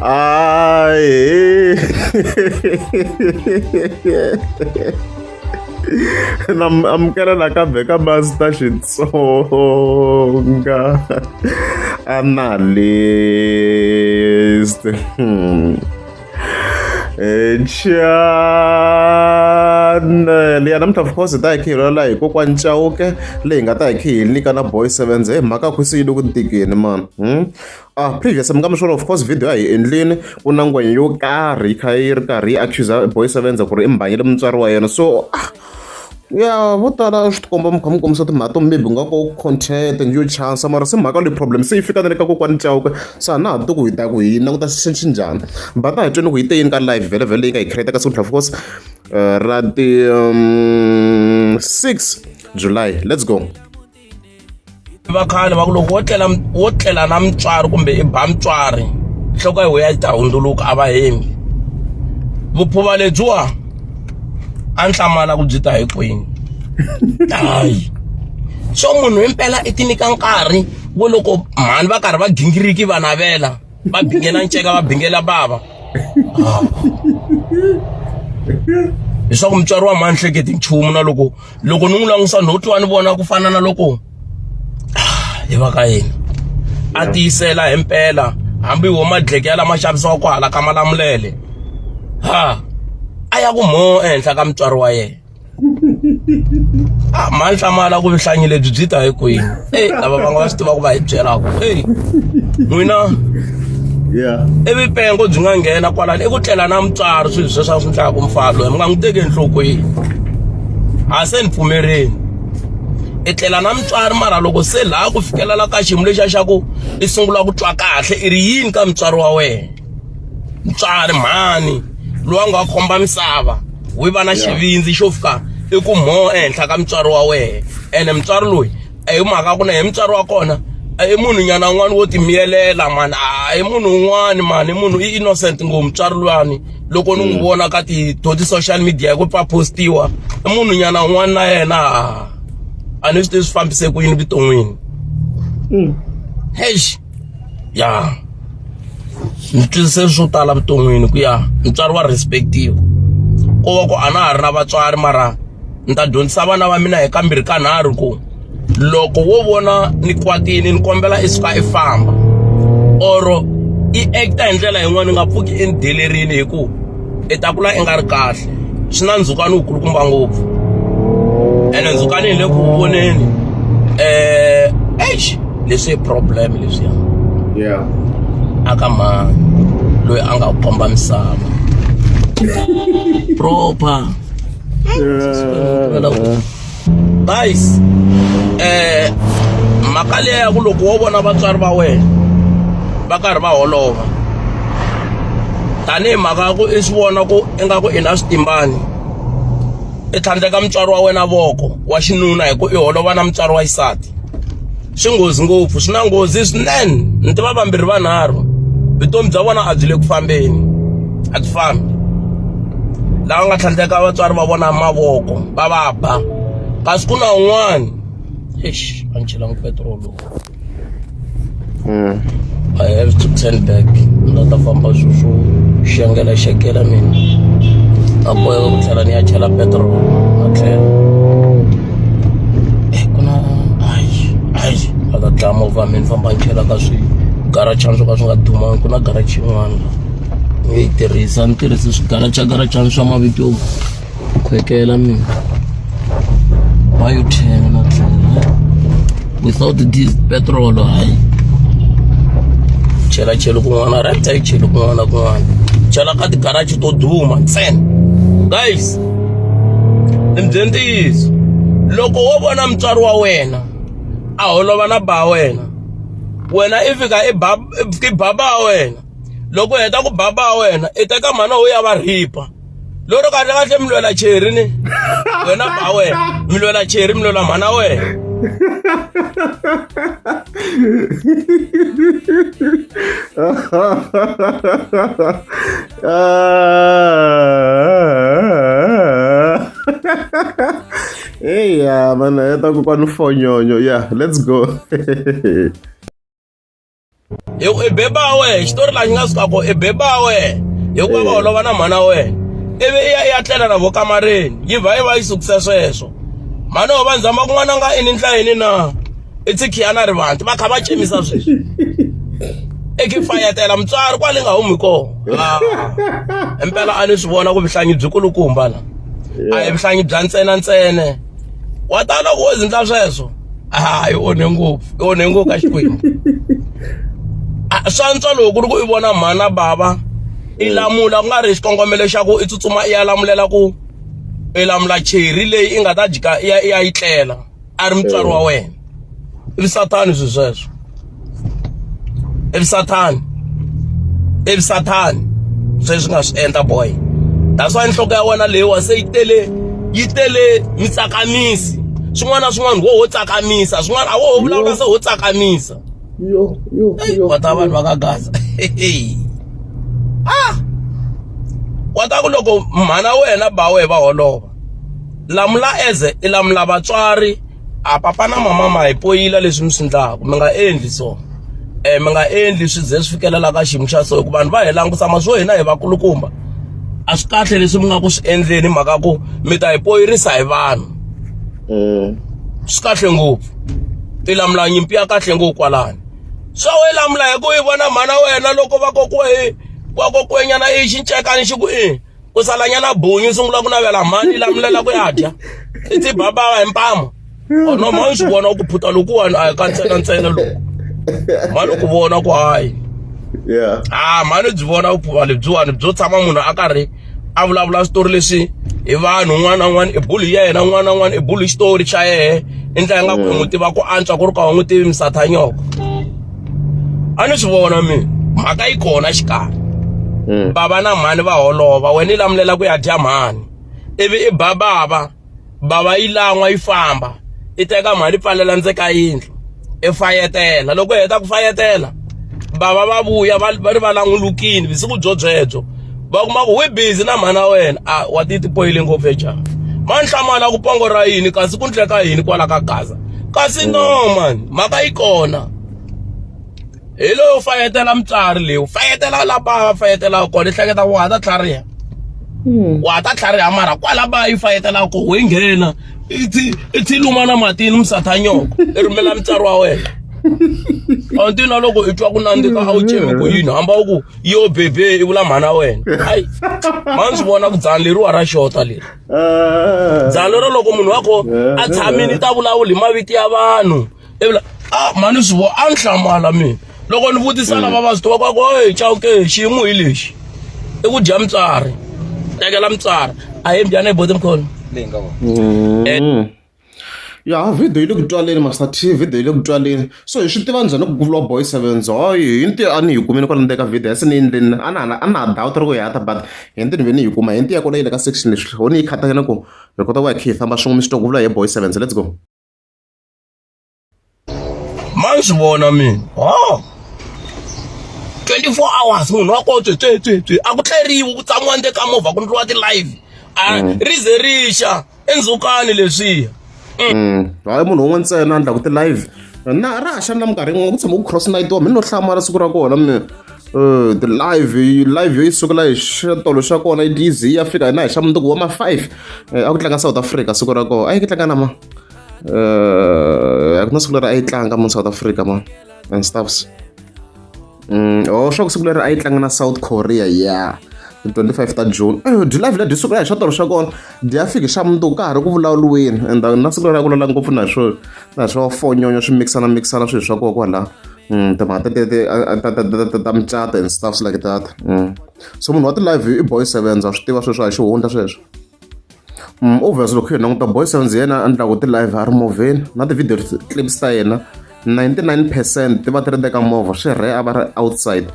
Aê! namukela nakambe ka master xitsonga analyst hmm. chana liya namuntlha of course hi ta hi khe hi lwela hi kokwani chauke leyi nga ta hi khe hi nyika na boy sevens hi mhaka khwisi yi le ku ntikeni mani hmm? ah previous mi nga mi swona of course video a hi endlini ku na ngwenya yo karhi yi kha yi ri karhi yi accusa boy sevens ku ri i mbhanyele mutswari wa yena so ah ya vo tala swi tikomba mi kha mi kombisa timhaka to maybe nga ko content yo chance mara se mhaka leyi problem se yi fika na le ka kokwani chauke se a na ha tiku hi ta ku hi languta xi njhani va ta hi twini ku yi te yini ka live vhele vhele leyi nga hi create ka siku of course eh, ra ti um, six july let's go va khale va ku loko wo tlela wo tlela na mutswari kumbe i ba mutswari nhloko ya wena yi ta hundzuluka a va hembi vuphuva lebyiwa a ni hlamala ku byi ta hi kwini hayi so munhu impela i ti nyika nkarhi wo loko mhani va karhi va gingiriki va navela va bingela nceka va bingela bava ah. leswaku mutswari wa mhani hleketi nchumu na loko loko ni n'wi langutisa no twa ni vona ku fana na loko ah, hi va ka yena a tiyisela hi mpela hambi wo madleke ya lama xavisiwa ku hala ka malamulele ha a ya ku mho ehenhla ka mutswari wa yena a ma ni hlamala ku vuhlanyi lebyi byi ta hi kwini e lava va nga va swi tivaka va hi byelaka e n'wina ivi pengo byi nga nghena kwalani i ku tlela na mutswari swilo sweswo swi ndlaka mufalo mi nga n'wi teki enhlokweni a se ni pfumerini i tlela na mutswari mara loko se laha ku fikelela ka xiyimo lexiya xa ku i sungula ku twa kahle i ri yini ka mutswari wa wena mutswari mhani loyi a nga khomba misava wi va na xivindzi xo fika i ku mho ehenhla ka mutswari wa wena ene mutswari loyi a hi mhaka ku na hi mutswari wa kona a i munhu nyana un'wana wo timiyelela mani a hi munhu un'wana mani i munhu i innocent ngo mutswari luyani loko ni n'wi vona ka ti to ti-social media hi ku pfa postiwa i munhu nyana un'wana na yena a ni swi tivi swi fambise ku yini vuton'wini heish ya ni twisise swo tala vuton'wini ku ya mutswari wa respect-iwa ko va ku a na ha ri na vatswari mara ni ta dyondzisa vana va mina hi kambirhi ka nharhu ku loko wo vona ni kwatile ni kombela i suka i famba or i act-a hi ndlela yin'wana ni nga pfuki i ni delerile hikuva i ta kula i nga ri kahle swi na ndzhukano wukulukumba ngopfu ene ndzhukano hi le ku voneni um eish leswi i problem leswiya yeah aka mhani loyi a nga ku komba misava proper Yeah. guys eh mhaka leya ya ku loko wo vona vatswari va wena va karhi va holova tanihi mhaka ya ku i swi vona ku ingaku i na switimbani i tlhandleka mutswari wa wena voko wa xinuna hi ku i holova na mutswari wa xisati swi nghozi ngopfu swi na nghozi swinene ni tiva vambirhi vanharhu vutomi bya vona a byi le ku fambeni a byi fambi lava nga tlhandleka vatswari va vona mavoko va va ba kasi ku na un'wana eish a ni chelangi petrol lowu hmm. i have to turn back na ta famba swo swo xengela xekela mina a boheka ku tlhela ni ya chela petrol a tlhela e ku na hayi hayi a ka dlaya movha mi ni famba ni chela ka swigarachana swo ka swi nga dumangi ku na garachi yin'wana ni yi tirhisa ni tirhise swigarachagarathana swa mavito yo khwekela mina wa yo ten na tlhela without this petrol hayi chela chela kun'wana right a yi cheli kun'wana kun'wana chela ka tigarachi to duma ntsena guys ni mi byele ntiyiso loko wo vona mutswari wa wena a holova na ba wena wena i fika i ba i baba wa wena loko heta ku baba wa wena i teka mhana wo ya va rhipa loko kahle kahle mi lwela cheri ni wena ba wena mi lwela cheri mi lwela mhana wena Ah. hey, yeah, man, I talk about no phone, yeah, let's go. Eu e beba we, story la nga suka ko e beba we. Eu kwa ba olova na mhana we. Ivi i ya i ya tlela na vo kamareni, yi vha yi va yi sukise sweswo. Mhana ho va ndzama kun'wana nga ini ntlayeni na. i tsikhiana ri vanti va kha va cemisa sweswi eke fayatela mutswari kwale nga humi kona ah. impela a ni swi vona ku vuhlangi byi kulukumba la a hi vuhlangi bya ntsena ntsene wa ta loko wo zindla sweswo hayi ah, onhe ngopfu i onhe ngopfu ka xikwembu ah, swa ntswa loko ku ri ku i vona mhana bava i lamula ku nga ri xikongomelo xa ku i tsutsuma i ya lamulela ku i lamula cheri leyi i nga ta dyika i ya i ya yi tlela a ri mutswari wa wena i vusathani swi sweswo i vusathani i vusathani sweswi nga swi endla boy that's why nhloko ya wena leyiwa se yi tele yi tele mitsakamisi swin'wana na swin'wana wo ho tsakamisa swin'wana a wo ho vulavula se ho tsakamisa yo yo yo va ta vanhu va ka gaza ah wa ta ku loko mhana wena ba we va holova lamula as i lamula vatswari a papa na mama ma hi poyila leswi mi swi endlaka mi nga endli so um mi nga endli swi ze swi fikelela ka xiyimo xa so hikuva vanhu va hi langutisa ma swo hina hi vakulukumba a swi kahle leswi mi nga ku swi endleni mhaka ku mi ta hi poyirisa hi vanhu mm. swi kahle ngopfu i lamula nyimpi ya kahle ngopfu kwalani swa we lamula hi ku yi vona mhana wena loko va kokiwe hi wa kokwenyana i xincekani xi ku i u salanyana bunyu sungula ku navela mhani lamulela ku ya dya i tibabava hi mpamo ono mhani swi vona ku phuta lokuwani a hi ka ntsena ntsena loko mhani ku vona ku hayi yeah ah mhani byi vona vuphuma lebyiwani byo tshama munhu a karhi a vulavula switori leswi hi vanhu un'wana na un'wana i bulu ya yena un'wana na un'wana i bulu xitori xa yena i ndlela nga ku n'wi tiva ku antswa ku ri ka u n'wi tivi misatha nyoko a ni swi vona mina mhaka yi kona xikarhi hmm. bava na mhani va holova wena yi lamulela ku ya dya mhani ivi i ba bava bava yi lan'wa yi famba i teka mhani i pfalela ndze ka yindlu i fayetela loko i heta ku fayetela bava va vuya va ri va langulukini vusiku byo byebyo va kuma ku wi busy na mhana wena a wa ti tipoyile ngopfu ejaha manhlamana ku pongo ra yini kasi ku ndleka yini kwala ka gaza kasi no mm. man mhaka yi kona hi loyo u fayetela mutswari leyi u fayetela la ba va fayetelaka kona i hleketa wa ha ta tlhariha hmm. wa ha ta tlhariha mara kwala ba yi fayetelaka ko ho yi nghena i thi luma na matini musathanyoko i rhumela mutswari wa wena a nti na loko i twa ku nandzika a wu cemi ku yini hamba u ku yo bebe i vula mhana wena hayi mani swi vona ku dzani leriwa ra xota leri eh. byalero loko munhu wa ko a eh. tshamini ta vulavuli hi maviti ya vanhu ivula a ah, mani swi vo a ni hlamala mina loko ni vutisa mm. lava va swi tivaka ku e chawuke xiyimo hi lexi i ku dya mutswari tekela mutswari a hi mbyana hi bote mkhona leyi nga vona mm. eh. Ya video yi le ku twaleni Master T video yi le ku twaleni so hi swi tiva njhani ku ku vuriwa Boy Sevens ho hi ntirho a ni yi kumile kwala ndzeni ka video a se ni yi endleleni a na ha a na ha doubt ri ku yi hata but hi ntirho ni ve ni yi kuma hi ntirho ya kona yi le ka section leswi ho ni yi khata na ku hi kota ku ya khe hi famba swin'we mi swi twa ku vula hi Boy Sevens let's go. ma ni swi vona mina ho 24 hours munhu wa kotse twe twe twe a ku tleriwi ku tshamiwa nde ka movha ku ndliwa ti-live a mm. ri ze ri xa endzhukani leswiya mm. mm. hayi munhu un'we ntsena a ndlaku ti-live na ra ha xana minkarhi yin'wana ku tshama ku cross night wa mi no hlamala siku ra kona mi eh, live live yo yi sukela hi xitolo xa kona yi dizy ya fika hina hi xa mundzuku wa ma-five eh, a ku tlanga south africa siku ra kona a yi ki tlanga na ma eh, a ku na siku leri a yi tlanga mo south africa ma and stuffs mm, o oh, swa ku siku leri a yi tlanga na south korea ya yeah. 25 ta june eh, dilove leti siku ra hi swatorho swa kona di ya fiki xa mundzuku ka ha ri ku vulavuriweni and na siku ra ku lala ngopfu na swo na swo fonyonyo swi mixana mixana swilo swa koho kwalaho mm, timhaka ta mucato and stuffs like that mm. so munhu wa ti-live i boy seven a swi tiva sweswo a xi hundla sweswo Obvious loko hi languta Boy Sounds yena a endlaku ti-live a ri movheni na ti-video clips ta yena 99 percent ti va ti ri ndzeni ka movha swi rhe a va ri outside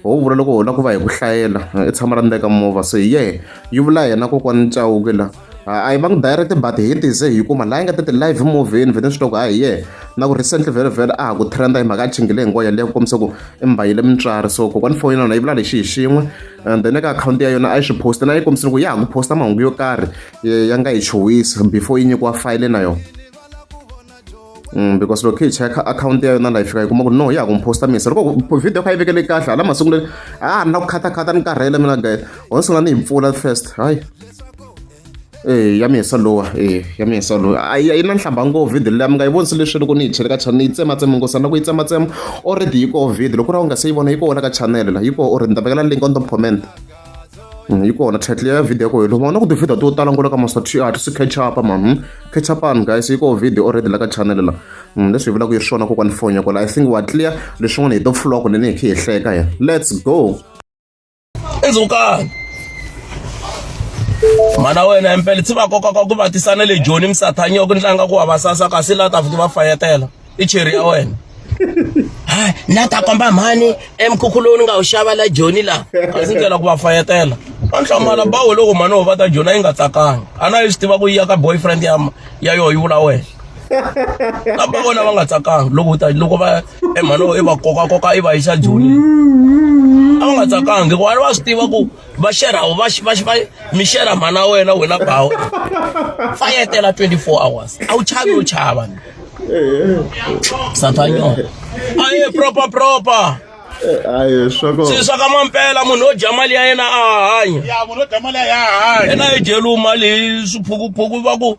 ho vula loko ho lava ku va hi ku hlayela i tshama ra ndzeni ka movha so hi ye yi vula yena kokwani Chauke la a yi va ngi direct but hi tize hi kuma laha yi nga ta ti-live movheni vhele swi loko a hi ye na ku recently vhele vhele a ha ku trenda hi mhaka a chingile hi ngoya leyi ku kombisa ku i mbayile mutswari so kokwani foni na yona yi vula lexi hi xin'we and then eka akhawunti ya yona a yi swi post na yi kombisile ku ya ha ku posta mahungu yo karhi eh, ya nga yi chuwisi before yi nyikiwa fayile na yona Mm, because loko hi cheka akhawunti ya yona laha yi fika yi kuma ku no ya ha ku mi posta misa loko video kha yi vekele kahle hala masunguleni a ni na ku khatakhata ni karhele mina guy ho ni sungula ni yi pfula first hayi Eya ya mina solo eya ya mina solo a yi na nhlamba ngopfu video leyi a mi nga yi vonisi leswi loko ni yi chele ka channel yi tsematsema ngopfu loko yi tsematsema already yi koho video loko u ri a wu nga se yi vona yi koho la ka channel la yi koho already ni ta vekela link on top comment mm, yi kona title ya video ya koho loko vona ku ti-video to tala ngolo ka maso ti a ti si catch up man hmm? catch up an guys yi koho video already la ka channel la mm, leswi hi vulaka yi ri swona kokwani foni ya kola i think wa clear leswin'wana hi to pfuloko leni hi khe hi hleka ya let's go endzhaku ka mhana wena empele tsi va koka ka ku va tisa na le joni misathanya ku tlanga ku va va sasa kasi laha ta fiki va fayetela i cheri ya wena na ta komba mhani emkhukhu lowu ni nga wu xava la joni laha kasi ndlela ku va fayetela va nhlamala bawo loko mhani wo va ta joni a yi nga tsakanga a na yi swi tiva ku yi ya ka boyfriend ya ya yoho yi vula wena kamba vona va nga tsakanga loko ta loko va emhano i va koka koka i va yisa joni a va nga tsakanga hikuva va swi tiva ku va xerha va va va mi xerha mhana wena wena bawo fa yetela 24 hours a wu chavi yo chava satanyo a ye proper proper ayi swako swi swa ka mampela munhu wo dya mali ya yena a hanya ya munhu wo dya mali ya hanya yena yi dyeliwi mali swiphukuphuku va ku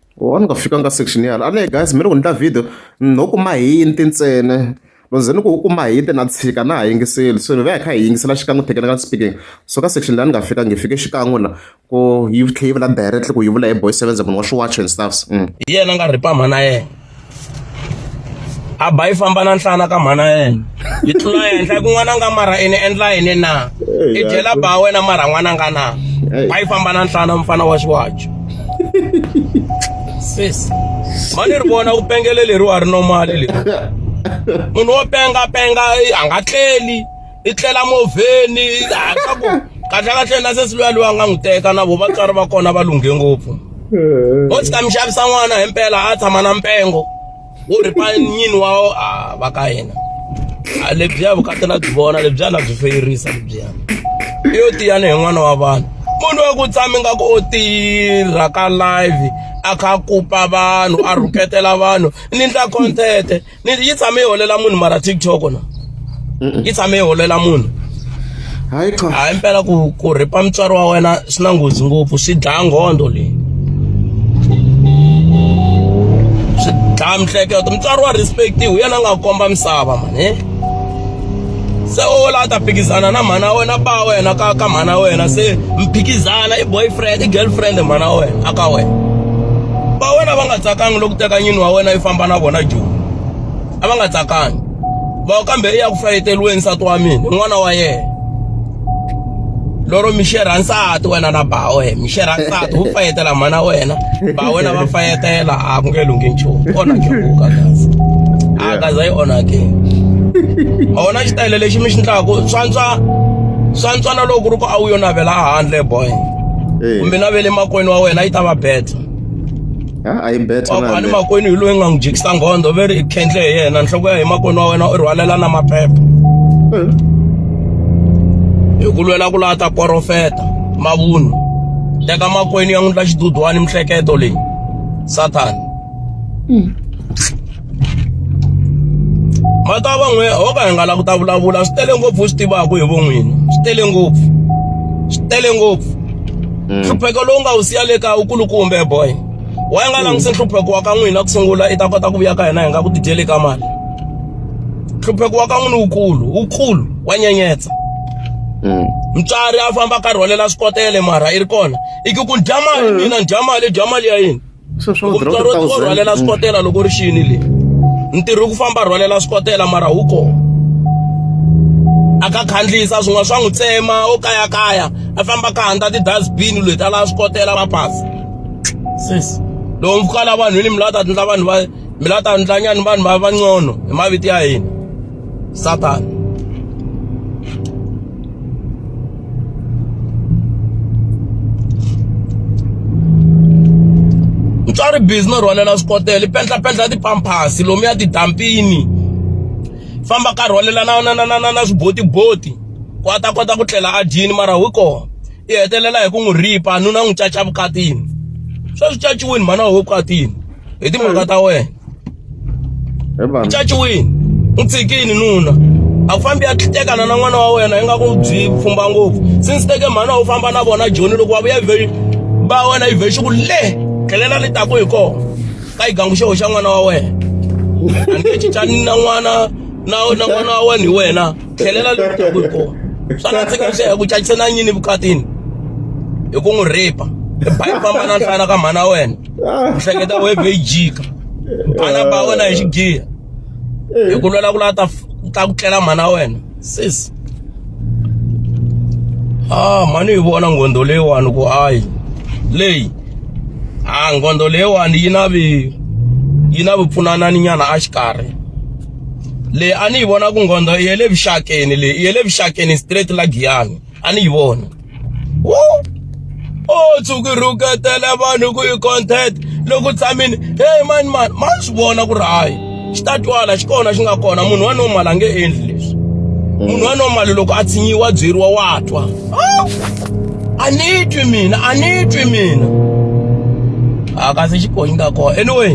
Why ni nga fikanga ka section yala a ni guys mi ri ku ni ta video no kuma hinti ntsena loko ze ni ku u kuma hinti na tshika na ha yingiseli so ni va hi kha hi yingisela xikan'we technical speaking so ka section leyi a ni nga fika ngi fike xikan'we la ku yi tlhe yi vula directly ku yi vula hi boy sevenza munhu wa swiwacho and stuffs mm. hi yena nga ripama na yena a ba yi famba na nhlana ka mhana yena yi tlula henhla ku n'wana nga mara ene endla yini na i dyela ba wena mara n'wana nga na ba yi famba na nhlana mfana wa xiwajo sis ma ni ri vona ku pengele leriwa ri nomali leri munhu wo penga penga a nga tleli i tlela movheni hatla ku kahlekahle na sesi luya luya nga n'wi teka na vo vatswari va kona va lunghe ngopfu o tshika mi xavisa n'wana hi mpela a tshama na mpengo wo ripa nyini wa va ka yena lebyiya vukati na byi vona lebyiya na byi feyirisa lebyiya i yo tiyani hi n'wana wa vanhu munhu wa ku tshami nga ku o tirha ka live a kha a kupa vanhu a rhuketela vanhu ni ndla content ni yi tshame yi holela munhu mara tiktok na yi tshame yi holela munhu hayi cha hayi impela ku ku rhipa mutswari wa wena swi na nghozi ngopfu swi dlaya nghondo leyi swi dlaya miehleketo mutswari wa respect hi yena a nga komba misava mani se o la ta phikizana na mhana wena ba wena ka ka mhana wena se mphikizana i boyfriend i girlfriend mhana wena aka wena ba wena va nga tsakangi loko teka nyini wa wena yi famba na vona joni a va nga tsakangi va kambe i ya ku fayeteriweni nsati wa mina n'wana wa yena loro mi xerha nsati wena na ba wena mi xerha nsati wu fayetela mhana wena ba wena va fayetela a ku nge lunghi nchumu onhake vuka kazi a kaza yi onhake a wona xitayele lexi mi xi ndlaku swantswa swantswa na loko ku ri ku a wu yo navela a handle boy kumbe navele makwenu wa wena yi ta va beta a yi betha kwani makwenu hi loyi nga n'wi jikisa nghondo ve ri i khendle hi yena nhloko ya hi makwenu wa wena u rhwalela na maphepha eh. hi ku lwela ku laha ta porofeta mavunwa teka makwenu ya n'wi ndla xidudwani mihleketo leyi sathana hmm. ma ta va n'we ho ka hi nga la ku ta vulavula swi tele ngopfu swi tivaka hi vo n'wini swi tele ngopfu swi tele ngopfu mm. nhlupheko lowu nga wu siya le kaya wu kulukumbe boy wa yi nga mm. langutisi nhlupheko wa ka n'wina ku sungula i ta kota ku vuya ka hina hi nga ku tidyeli ka mali nhlupheko wa ka n'wini wukulu wukulu wa nyenyetsa mm. mutswari a famba karhi wa lela swi kotele mara i ri kona i ku ku dya mali mina ni dya mali dya mali ya yini rhwalela swikotela loko ri xini le ntirho ku famba rhwalela swikotela mara wu kona a ka khandlisa swin'wana swa n'wi tsema o kayakaya a famba ka handza ti-dustbin leti a lava swikotela va pasi sis loko mi fika la vanhwini mi lava ta tindla vanhu va mi lava ta ndlanyani vanhu va vancono hi mavito ya hina Satan. mutswari busy no rhwalela swikotele pendlapendla tipampasi lomuya tidampini famba ka rhwalela na na na na na na swibotiboti ku a ta kota ku tlela a dyini mara wi kona i hetelela hi ku n'wi ripa nuna n'wi caca vukatini sweswi caciwini mhana ho vukatini hi timhaka ta wena Hi vanhu. caciwini n'wi tshikini nuna a ku fambi ya tekana na n'wana wa wena ingaku u byi pfumba ngopfu since teke mhana u famba na vona joni loko wa vuya vhe ba wena yi vhe xiku le tlhelela ni taku hi kona ka yi gangu xeho xa n'wana wa wena a nge cincani na n'wana na na n'wana wa wena hi wena tlhelela le taku hi kona swa nandzika swi ya ku cacise na nyini vukatini hi ku n'wi rape hi ba yi famba na nhlana ka mhana wa wena Ah. ku hleketa webhe yi jika vana va wena hi xigiya eh. hi ku lwela ku lava ta ta ku tlela mhana wena sis a ah, mhani yi vona nghondo leyiwani ku hayi leyi a ah, nghondo leyiwani yi na vi yi na vupfunanani nyana a xikarhi leyi a ni yi vona ku nghondo i ye le vuxakeni leyi i ye le vuxakeni straight la giyani a ni yi vona o tshuki rhuketela vanhu ku yi content loko tshamini heyi mani mani ma swi vona ku ri hayi xi ta twala xi kona xi nga kona munhu wa normal a nge endli leswi munhu wa normal loko a tshinyiwa byeriwa wa twa a ni twi mina a ni twi mina a kasi xikonyi ka kona anyway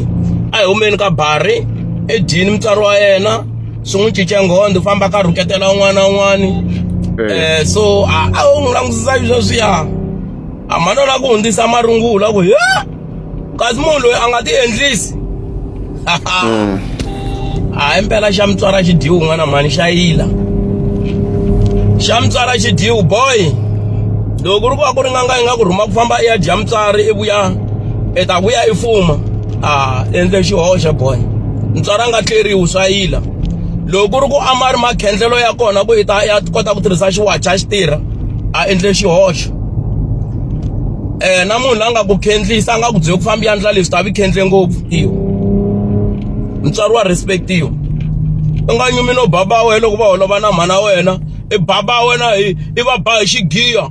a hi humeni ka bari edyini mutswari wa yena swi n'wi cince nghondo u famba ka rhuketela un'wana na un'wana um so a wu n'wi langutisa sweswiya a mhani la ku hundzisa marungula ku ya kasi munhu loyi a nga ti endlisi hmm. a hi mpela xa mutswara xi dyiwi un'wana mhani xa yila xa mutswara xi dyiwi boy loko ku ri ku va ku ri nganga yi nga ku rhuma ku famba i ya dya mutswari i vuya i ta vuya i fuma a endle xihoxo boy ntswara nga tleriwi swa yila loko ku ri ku a ma ri makhendlelo ya kona ku yi ta ya kota ku tirhisa xiwacha xi tirha a endle xihoxo eh na munhu la nga ku khendlisa a nga ku byele ku famba yandla leswi ta vi khendle ngopfu iyo mutswari wa respect iyo u nga nyumi no baba wena loko va holova na mhana wena i baba wena i va ba hi xigiya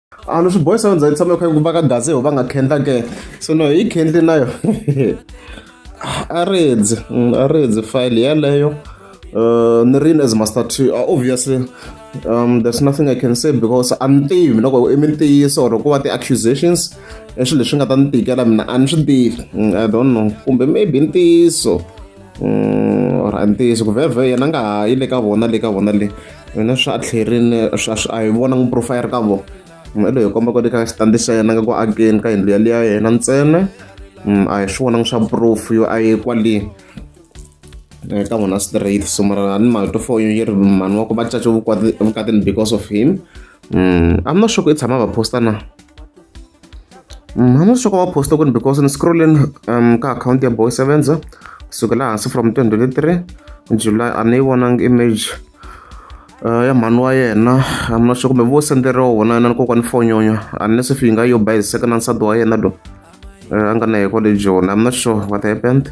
a ni swi boyisa yo ndzhaku tshama kha ku va ka gaze ho va nga khendla ke so no yi khendli na yo a redzi mm, a redzi file yeleyo uh, ni ri as master t uh, obviously um, there's nothing i can say because a ni tivi loko i mintiyiso or ku va ti-accusations i swilo leswi nga ta ni tikela mina a ni swi tivi mm, i don't know kumbe maybe ntiyiso or a ntiyiso ku vhevhe yena a nga ha yi le ka vona le ka vona le yena swa a tlherini swa a hi vona n'wi profile ka vona i loyi hi komba ku le ka xitandi xa yena nga ku akeni ka yindlu yaliya ya yena ntsena a hi swi vonangi swa proof yo a yi kwale ka vona straight so mara ni mhaka to fo yi ri mhani wa ku va cace vukatini because of him i'm not sure ku i tshama va posta na Mm, hambi swi va post kwini because ni scrolleni um, ka akhawunti ya boy sevenza kusukela hansi from 2023 july a ni yi vonanga image uh, ya mhani wa yena hambi na swi kumbe vo senderiwa wona na nkokwani fonyonyo a ni se fi yi nga yo bayiseka na nsati wa yena lo uh, a nga na hi kwale joni hambi na sure what happened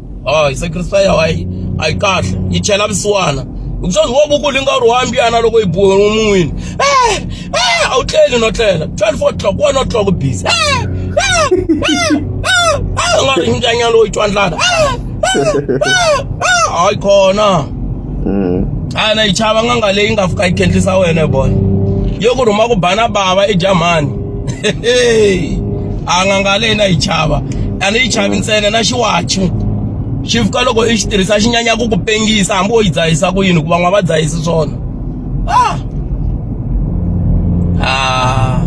a yi sacrifice a yi a yi kahle yi chela vusiwana hikuva wo vukulu yi nga ri wa mbiyana loko yi biwe mun'wini e e a wu tleli no tlela twelve o'clock one o'clock busy a nga ri mbyanyana lowu yi twandlana hayi khona a na yi chava n'anga leyi nga fika yi khendlisa wena hi vona yo ku rhuma ku bana bava i jamani anganga leyi na yi chava a ni yi chavi ntsena na xiwachi xi fika loko i xi tirhisa xi nyanya ku ku pengisa hambi wo yi dzahisa ku yini hikuva n'wa va dzahisi swona ah. Ah.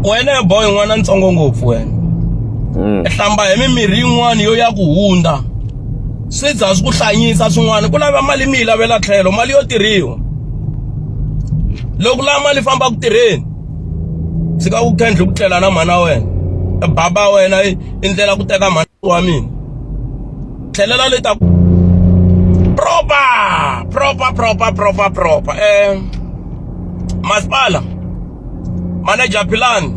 wena ya boy n'wana ntsongo ngopfu wena mm. hlamba hi mimirhi yin'wana yo ya ku hundza swi za swi ku hlanyisa swin'wana ku lava mali mi yi lavela tlhelo mali yo tirhiwa loko lava mali famba ku tirheni tshika ku kendle ku tlela na mhana wena e baba wena i ndlela ku teka mhana wa mina tlhelela le ta proper proper proper proper proper eh masipala manager philani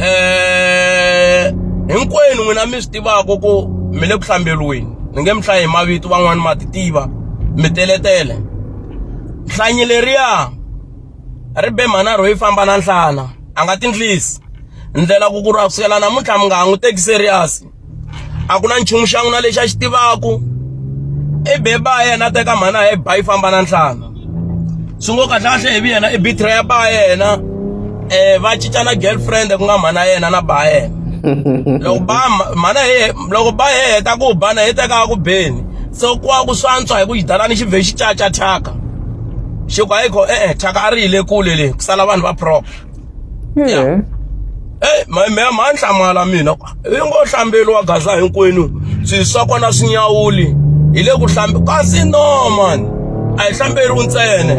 eh hinkwenu n'wina mi swi tivaka ku mi le ku hlambelweni ni nge mi hlayi hi mavito van'wani ma ti tiva mi teletele hlanyi leriya ri be mhana rhoyi famba na nhlana a nga tindlisi ndlela ku ku ra kusukela namuntlha mi nga ha n'wi teki serious a ku na nchumu xa n'wina lexi a xi tivaku i be ba yena a teka mhana ya ba yi famba na nhlana swi ngo kahlekahle hi vi yena i bitra ya ba yena um va cinca na girlfriend ku nga mhana yena na ba yena loko ba mhana ye loko ba ye heta ku ba na yi tekaka ku beni se kuwa ku swantswa hi ku xidalani xi vhe xi caca thyaka xi ku hayikho e-e thyaka a ri yile kule le ku sala vanhu va propa yeah. Hey, mhemhe ma nhlamala mina i ngo hlambeli wa gaza hinkwenu swi swa kona swi nyawuli hi le ku hlambi kasi no man a hi hlamberiwi ntsene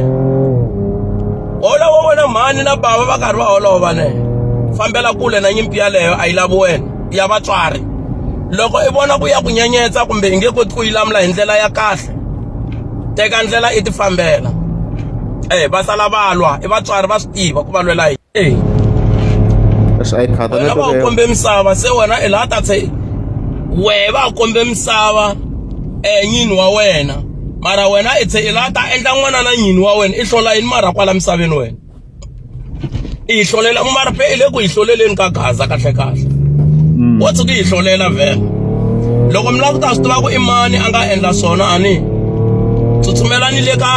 hola wo vona mhani na bava va karhi va holova ne fambela kule na nyimpi yaleyo a yi lavi wena ya vatswari loko i vona ku ya ku nyenyetsa kumbe i nge koti ku yi lamula hi ndlela ya kahle teka ndlela i ti fambela eh va sala va lwa i vatswari va swi tiva ku va lwela hi eh leswi a yi khata wena va u kombe misava se wena i laha ta se wehe va u kombe misava eh nyini wa wena mara wena i se i laha ta endla n'wana na nyini wa wena i hlola yini mara kwala misaveni wena i yi hlolela mrp i le ku yi hloleleni ka gaza kahlekahle mm. wo tshuka yi hlolela vhele loko mi lava ku ta swi tiva ku i mani a nga endla swona ani tsutsumelani le ka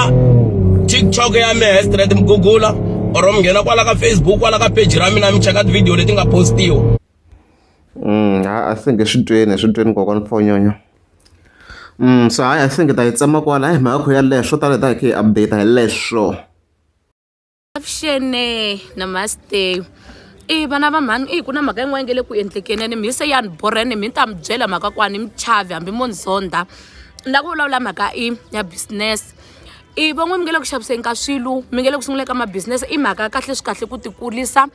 tiktok ya mina hestrate mi gugula or mi nghena kwala ka facebook kwala ka peji ra mina mi cheka tivhidiyo leti nga postiwa mm, a se nge swi tweni swi tweni kokwana phonyonyo mm, so hayi a se nge ta yi tsema kwala hi mhaka kho yaleyo swo tala hi ta hi khe hi update hi leswo avuxene namaste i vana va mhani i ku na mhaka yin'wana nge le ku endlekeni ene mi se yani borene mi ta mi byela mhaka kwani mi chavi hambi mo ni zonda ni lava ku vulavula mhaka i ya business i van'wani mi nge le ku xaviseni ka swilo mi nge le ku sunguleni ka mabusiness i mhaka ya kahle swi kahle ku tikulisa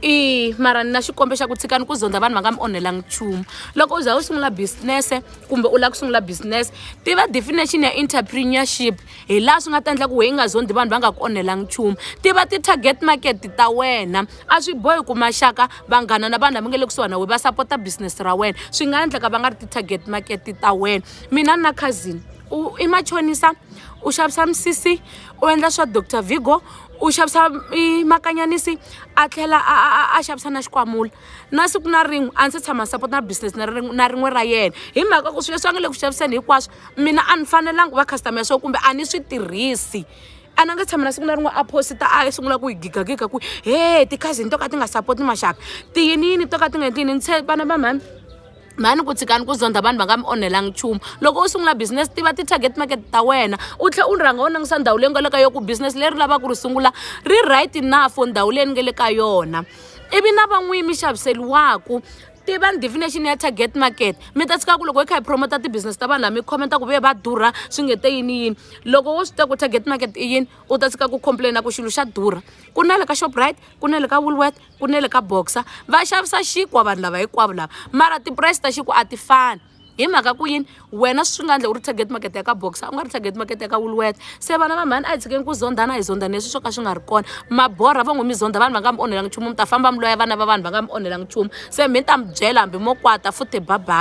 i mara ni na xikombe xa ku tshikani ku zondza vanhu va nga mi onhelanga nchumu loko u za u sungula business-e kumbe u lava ku sungula business tiva definition ya entrepreneurship hi laha swi nga ta endla ku wehe i nga zondzi vanhu va nga ku onhelanga nchumu tiva ti-target market ta wena a swi bohi ku maxaka vanghana na vanhu lava nga le kusuhani na wena va sapota business ra wena swi nga endleka va nga ri ti-target market ta wena mina ni na cousin u i machonisa u xavisa misisi u endla swa doctor vigo u xavisa makanyanisi a tlhela a a a xavisa na xikwamula na siku na rin'we a ndzi se tshama support na business na rin'we na rin'we ra yena hi mhaka ku swilo leswi a nga le ku xaviseni hinkwaswo mina a ni fanelanga va customer ya swona kumbe a ni swi tirhisi a na nga tshama na siku na rin'we a posita a sungula ku yi gigagiga ku he ti-cousin to ka ti nga support maxaka tiyiniyini to ka ti nga yini tiyini ni tshemba na va mhani mhani ku tshikani ku zondha vanhu va nga mi onhelanga nchumu loko u sungula business tiva ti-target market ta wena u tlhela u rhanga u langisa ndhawu leyi nga le ka yona ku business leri lavaka ku ri sungula ri right enough for ndhawu leyi ni nga le ka yona ivi na van'wini mi xaviseriwaku tiva definition ya target market mi ta tshika ku loko hi kha hi promota ti-business ta vanhu lava mi khomenta ku ve va durha swi nge te yini yini loko wo swi tiva ku target market i yini u ta tshika ku complaina ku xilo xa durha ku na le ka shoprite ku na le ka woolworth ku ne le ka boxer va xavisa xinkwa vanhu lava hinkwavo lava mara tipurayisi ta xinkwa a ti fani hi mhaka ku yini wena swi nga endla u ri target market ya ka boxer u nga ri target market ya ka woolworth se vana va mhani a hi tshikeni ku zondzana hi zondzana leswi swo ka swi nga ri kona maborha va ngo mi zondza vanhu va nga mi onhelanga nchumu mi ta famba mi loya vana va vanhu va nga mi onhelanga nchumu se mi ta mi byela hambi mo kwata futhi babaa